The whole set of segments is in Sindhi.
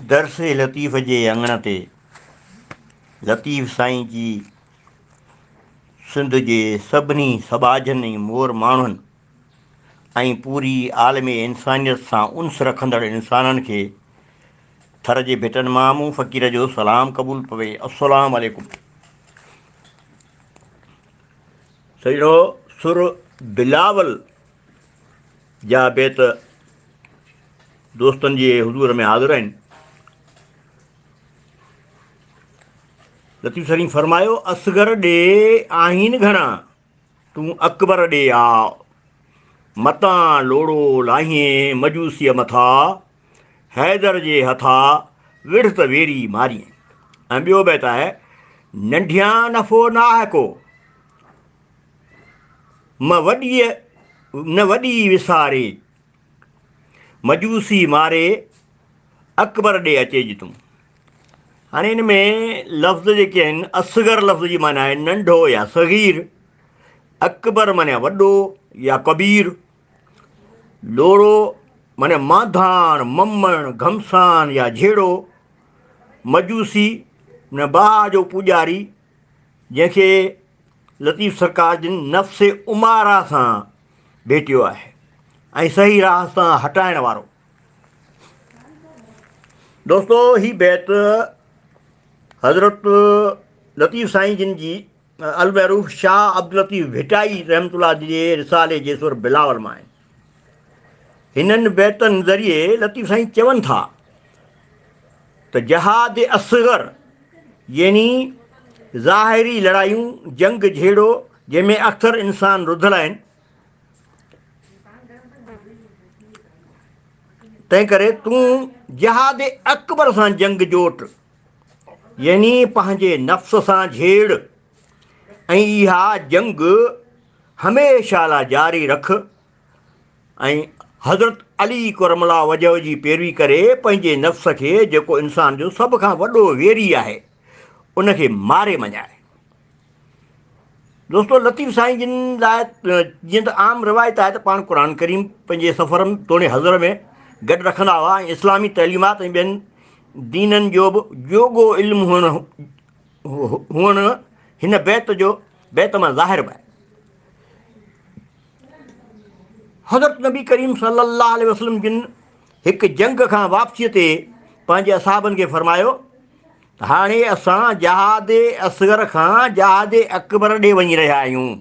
درس لطيف جي اڱڻ تي لطيف سائين جي سنڌ جي سڀني سٻاجهن ۽ مور ماڻهن ۽ پوري عالم انسانيت سان انس رکندڙ انسانن کي ٿر جي ڀٽن مان مون فقير جو سلام قبول پوي السلام عليڪم سهڻو سر بلاول جا بيت دوستن جي حضور ۾ حاضر آهن. لطيف سرين فرمايو اصغر ڏي آهين گهڻا تون اڪبر ڏي آء متان لوڙو لاهين مجوسيء مٿا حيدر جي هٿا وڙهه ته ويري مارين ۽ ٻيو بيت آهي ننڍيان نفو ناهه ڪو م وڏيء نه وڏي وساري مجوسي ماري اڪبر ڏي اچي جي تون هاڻي ان ۾ لفظ جيڪي آهن اصغر لفظ جي معنيٰ آهي ننڍو يا صغير اڪبر معنيٰ وڏو يا ڪبير ڏورو معني مانڌاڻ، ممڻ، گهمسان يا جهيڙو، مجوسي معني باهه جو پوڄاري، جنهن کي لطيف سرڪار جن نفس اماره سان ڀيٽيو آهي ۽ صحيح راهه تان هٽائڻ وارو. دوستو هي بيت حضرت لطيف سائين جن جي المعروف شاهه عبداللطيف ڀٽائي رحمة الله جي رسالي جي سر بلاول مان آهن. هنن بيتن ذريعي لطيف سائين چون ٿا ته جهاد اصغر يعني ظاهري لڙايون جنگ جهيڙو جنهن ۾ اڪثر انسان رڌل آهن تنهن ڪري تون جهاد اڪبر سان جنگ جوٽ يعني پنهنجي نفس سان جهيڙ ۽ اها جنگ هميشه لاء جاري رک ۽ حضرت علي ڪرم الله وجهه جي پيروي ڪري پنهنجي نفس کي جيڪو انسان جو سڀ کان وڏو ويري آهي ان کي ماري مڃاء. دوستو لطيف سائين جن لاء جيئن ته عام روايت آهي ته پاڻ قرآن ڪريم پنهنجي سفرن توڻي حضر ۾ گڏ رکندا هئا ۽ اسلامي تعليمات ۽ ٻين دينن جو به جوڳو علم هئڻ هئڻ هن بيت جو بيت مان ظاهر به آهي حضرت نبي ڪريم صلي الله عليه وسلم جن هڪ جنگ کان واپسيء تي پنهنجي اصحابن کي فرمايو هاڻي اسان جهاد اصغر کان جهاد اڪبر ڏي وڃي رهيا آهيون.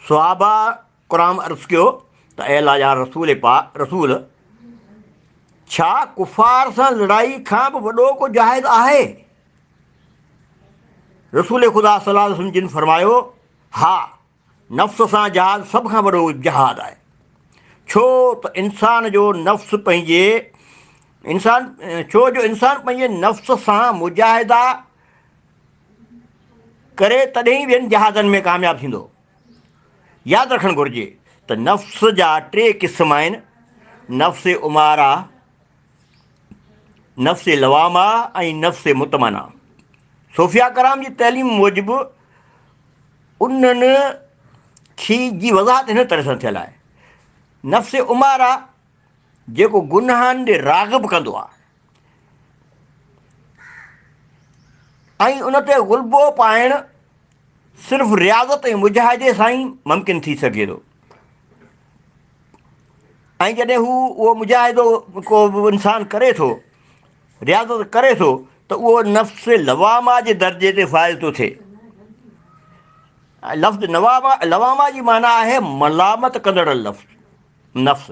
صحابه ڪرام عرض ڪيو ته اي الله جا رسول پاڪ رسول! ڇا ڪفار سان لڙائي کان به وڏو ڪو جهاد آهي؟ رسول خدا صلي الله عليه وسلم جن فرمايو، ها! نفس سان جهاد سڀ کان وڏو جهاد آهي ڇو ته انسان جو نفس پنهنجي انسان ڇو جو انسان پنهنجي نفس سان مجاهدا ڪري تڏهن ئي ٻين جهادن ۾ ڪامياب ٿيندو ياد رکڻ گهرجي ته نفس جا ٽي قسم آهن نفس امارا نفس لوامه ۽ نفس مطمئنه صوفياء ڪرام جي تعليم موجب انهن کي جي وضاحت هن طرح سان ٿيل آهي نفس عمارا جيڪو گناهن ڏي راغب ڪندو آهي ۽ ان تي غلبو پائڻ صرف رياضت ۽ مجاهدي سان ئي ممڪن ٿي سگهي ٿو ۽ جڏهن هو اهو مجاهدو ڪو انسان ڪري ٿو رياضت ڪري ٿو ته اهو نفس لواما جي درجي تي فائز ٿو ٿئي لفظ نواما لواما جي معنيٰ آهي ملامت ڪندڙ لفظ نفس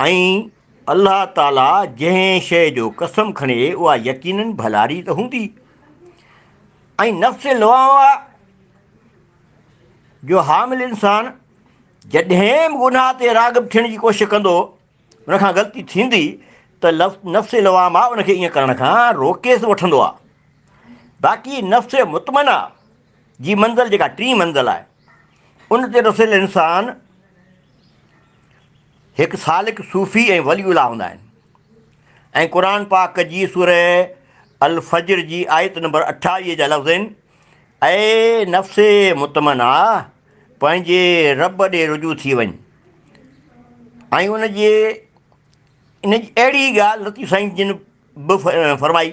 ۽ الله تعاليٰ جنهن شيء جو قسم کڻي اها يقيناً ڀلاري ته هوندي. ۽ نفس لوامه جو حامل انسان جڏهن به گناهه تي راغب ٿيڻ جي ڪوشش ڪندو، ان کان غلطي ٿيندي ته نفس لوامه ان کي ائين ڪرڻ کان روڪي ته وٺندو آهي. باقي نفس مطمئنه جي منزل جيڪا ٽين منزل آهي. ان تي رسيل انسان هڪ سالڪ صوفي ۽ ولي الله هوندا آهن ۽ قرآن پاڪ جي سورة الفجر جي آيت نمبر اٺائيهه جا لفظ آهن اي نفس مطمئنه پنهنجي رب ڏي رجوع ٿي وڃ ۽ ان جي ان جي اهڙي ڳالهه لطيف سائين جن به فرمائي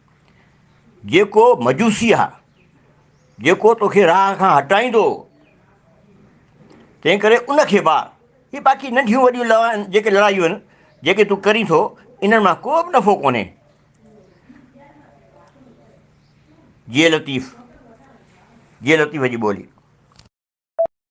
جيڪو مجوسي آهي، جيڪو توکي راهه کان هٽائيندو، تنهنڪري ان کي مار. هي باقي ننڍيون وڏيون لڙائيون، جيڪي لڙايون آهن، جيڪي تون ڪرين ٿو، انهن مان ڪو به نفعو ڪونهي. جي لطيف، جي لطيف جي ٻولي.